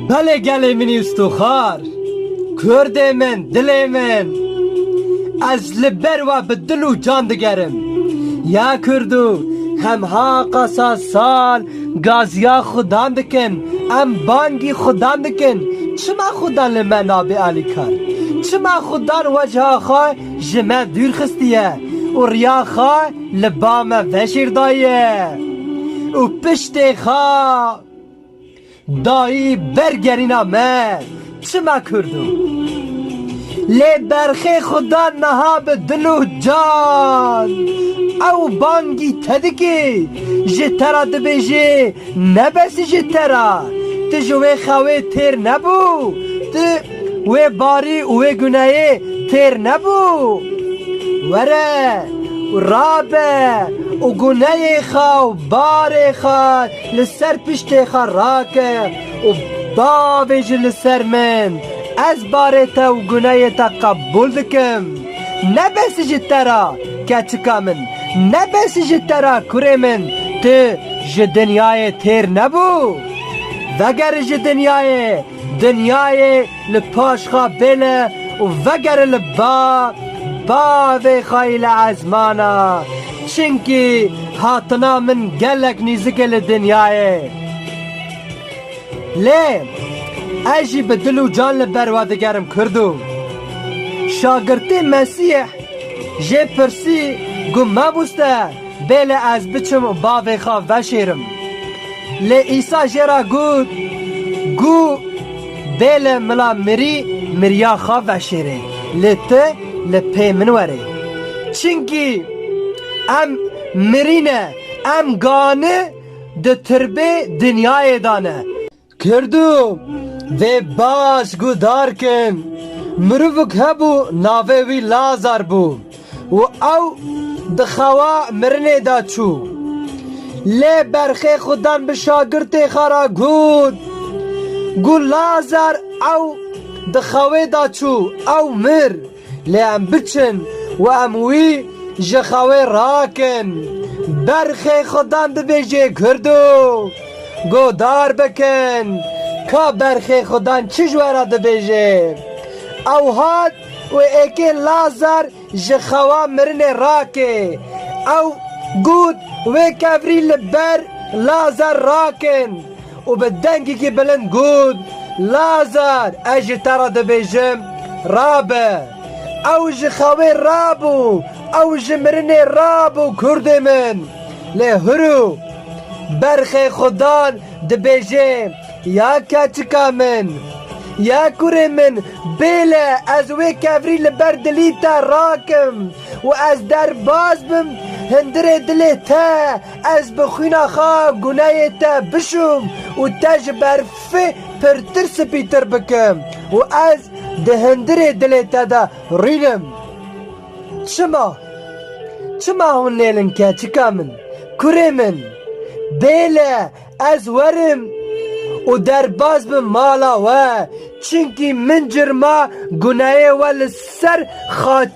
Belê gelê min Îstoxar, Kurdê min, dilê min. Ez li ber we bi dil û can digerim. Ya Kurdo, hem haqa sa sal gaziya Xudan dikin, em bangî Xudan dikin. Çima Xudan li me nabê alîkar? Çima Xudan wecha xwe ji me dûr xistiye û riya xwe Li ba me vejîr daye û piştê xwe dayî ber gerîna me çima kurd o. Lê berxê xuda niha bi dil û can ew bangî te dikê ji te re dibêjê nebesî ji te re tu ji wê xewê têr nebû tu Wê barî û wê guneyê têr nebû? Were û rabe û guneyê xwe û barê xwe li ser piştê xwe rake û bavê ji li ser min, ez barê te û guneyê te qebûl dikim. Nebesî ji te re keçika min, nebesî ji te re kurê min, tu ji dinyayê têr nebû. Vegere ji dinyayê. Dinyayê li paşxa bêle û vegere li ba, ba vê xayî li ezmana, çinkî hatina min gelek nîzik e li dinyayê. Lê ez jî bi dil û can li ber we digerim Kurdo. Şagirtê Mesîh jê pirsî, Got mebûste? Bêle ez biçim û bavê xwe veşêrim. Lê Îsa jê re got, Gû, bêle mila mirî miriya xwe veşêrê, lê tu li pê min were. Çimkî em mirî ne, em gani di tirbê dinyayê de ne. Kurdû vê baş gudar kin, Mirovik hebû navê wî Lazar bû û ew di xewa mirinê de çû. Lê berxê xwe dan bi şagirtê xwe re got ku Lazar ew di xewê de çû, ew mir. Lê em biçin û em wî ji xewê rakin. Berxê Xudan dibêjê Kurd û godar bikin. Ka berxê Xudan çi ji we re dibêjê? Ew hat û êkê Lazar ji xewa mirinê rakê. Ew got wê kevirî li ber Lazar rakin. Û bi dengekî bilind got, Lazar, ez ji te re dibêjim, rabe! Ew ji xewê rabû, ew ji mirinê rabû, kurdê min! Lê hurû! Berxê xwe dan, dibêjê, Ya keçika min! Ya kurê min! Bêle ez wê kevirî li ber dilî te rakim û ez derbas bim, hundirê dilê te, Ez bi xwîna xwe guneyê te bişûm û te ji berfê pirtir spîtir bikim û ez di hundirê dilê te de rînim. Çima? Çima hûn lêlin keçika min? Kurê min, bêle ez werim û derbas bim mala we, çimkî min cirma guneyê we li ser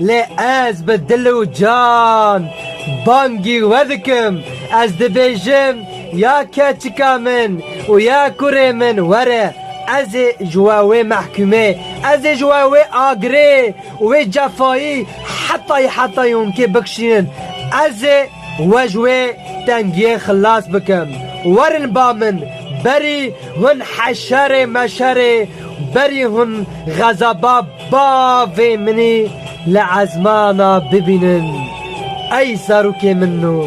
Lê ez bi dil û can bangî we dikim, ez dibêjim ya keçika min û ya kurê min were, ez ê ji we wê mehkumê, ez ê ji we wê agirê û wê cefayî hetayî hetayî hûnkê bikişînin, ez ê we ji wê tengiyê xilas bikim. Werin ba min, berî hûn heşerê meşerê, berî hûn xezaba Bavê minî li ezmana bibînin ey zarokê min no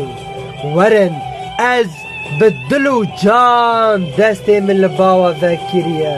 werin ez bi dil û can destê min li bawa vekiriye.